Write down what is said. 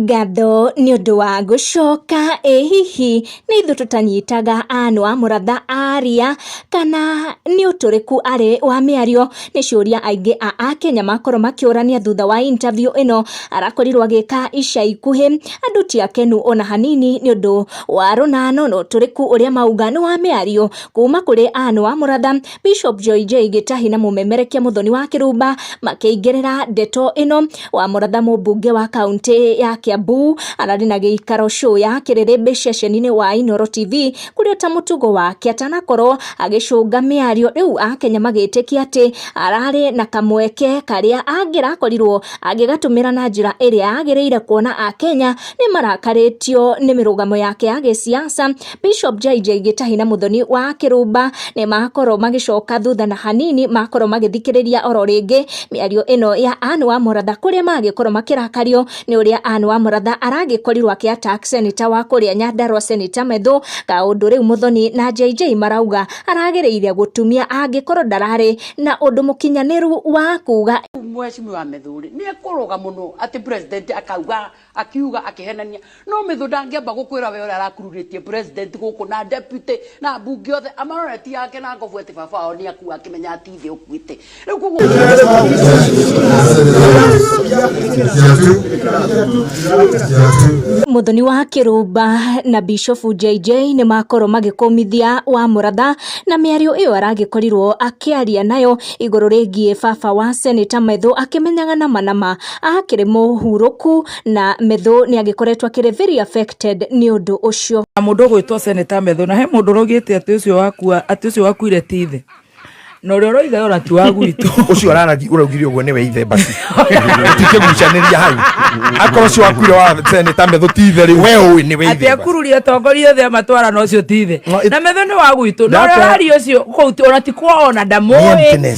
Ngatho nĩ ũndũ wa gũcoka. Ĩ hihi nĩ ithuĩ tũtanyitaga anũ a mũratha aria, kana nĩ ũtũrĩku arĩ wa mĩario? Nĩ ciũria aingĩ a Akenya makorwo makĩũrania thutha wa interview ĩno arakorirwo agĩka ica ikuhĩ. Andũ ti akenu ona hanini nĩ ũndũ wa rũnano na ũtũrĩku ũrĩa mauga nĩ wa mĩario kuma kũrĩ anũ a mũratha. Bishop Joy J Gĩtahi na mũmemerekia Mũthoni wa Kĩrumba makĩingĩrĩra ndeto ĩno wa mũratha mũmbunge wa kaunti ya Kiambu ararĩ na gĩikaro show ya kĩrĩrĩmbĩ ceceni-inĩ wa Inoro TV kũrĩ ota mũtugo wake atanakorwo agĩcũnga mĩario rĩu akenya magĩtĩkia atĩ ararĩ na kamweke karĩa angĩrakorirwo agĩgatũmĩra na njĩra ĩrĩa yagĩrĩire kuona akenya nĩ marakarĩtio nĩ mĩrũgamo yake ya gĩsiasa Bishop JJ Gĩtahi na Mũthoni wa Kĩrũmba nĩ makorwo magĩcoka thutha na hanini makorwo magĩthikĩrĩria oro rĩngĩ mĩario ĩno ya Ann wa Mũratha kũrĩa magĩkorwo makĩrakario nĩ ũrĩa Ann wa Mũratha aragĩkorirwo akĩatak seneta wa kũrĩa Nyandarua seneta Methũ kaũndũ rĩu Mũthoni na JJ marauga aragĩrĩire gũtumia angĩkorwo ndararĩ na ũndũ mũkinyanĩru wa kuga Mheshimiwa Methuri nä ekå rå ga må no atä president akauga Akiuga akĩhenania. No mĩthũ ndangĩamba gũkwĩra we ũrĩa arakururĩtie president gũkũ na deputy na ambunge othe amarore ti ake na ngobu atĩ baba wao nĩ akua akĩmenya ati thĩ ũkuĩte. Rĩu koguo Mũthoni wa Kĩrumba na Bishofu JJ nĩ makorwo magĩkũmithia wa mũratha na mĩario ĩyo aragĩkorirwo akĩaria nayo igũrũ rĩgiĩ baba wa Seneta Methũ akĩmenyaga nama nama akĩrĩ mũhurũku na Methũ nĩ agĩkoretwo akĩrĩ very affected nĩ ũndũ ũcio. Na mũndũ ũgwĩtwo Seneta Methũ na he mũndũ ũraugĩte atĩ ũcio wakua atĩ ũcio wakuire ti ithe na ũrĩa ũroiga yona ti wa gwitũ ũcio ararathi ũraugire ũguo nĩwe ithe basi tikĩgucanĩria hau akorwo ũcio wakuire wa seneta metho ti ithe rĩu we ũĩ nĩwe ithe atĩ akururia atongoria othe amatwara na ũcio ti ithe na metho nĩ wa gwitũ na ũrĩa ũraria ũcio kũu ona ti kwao ona ndamũĩ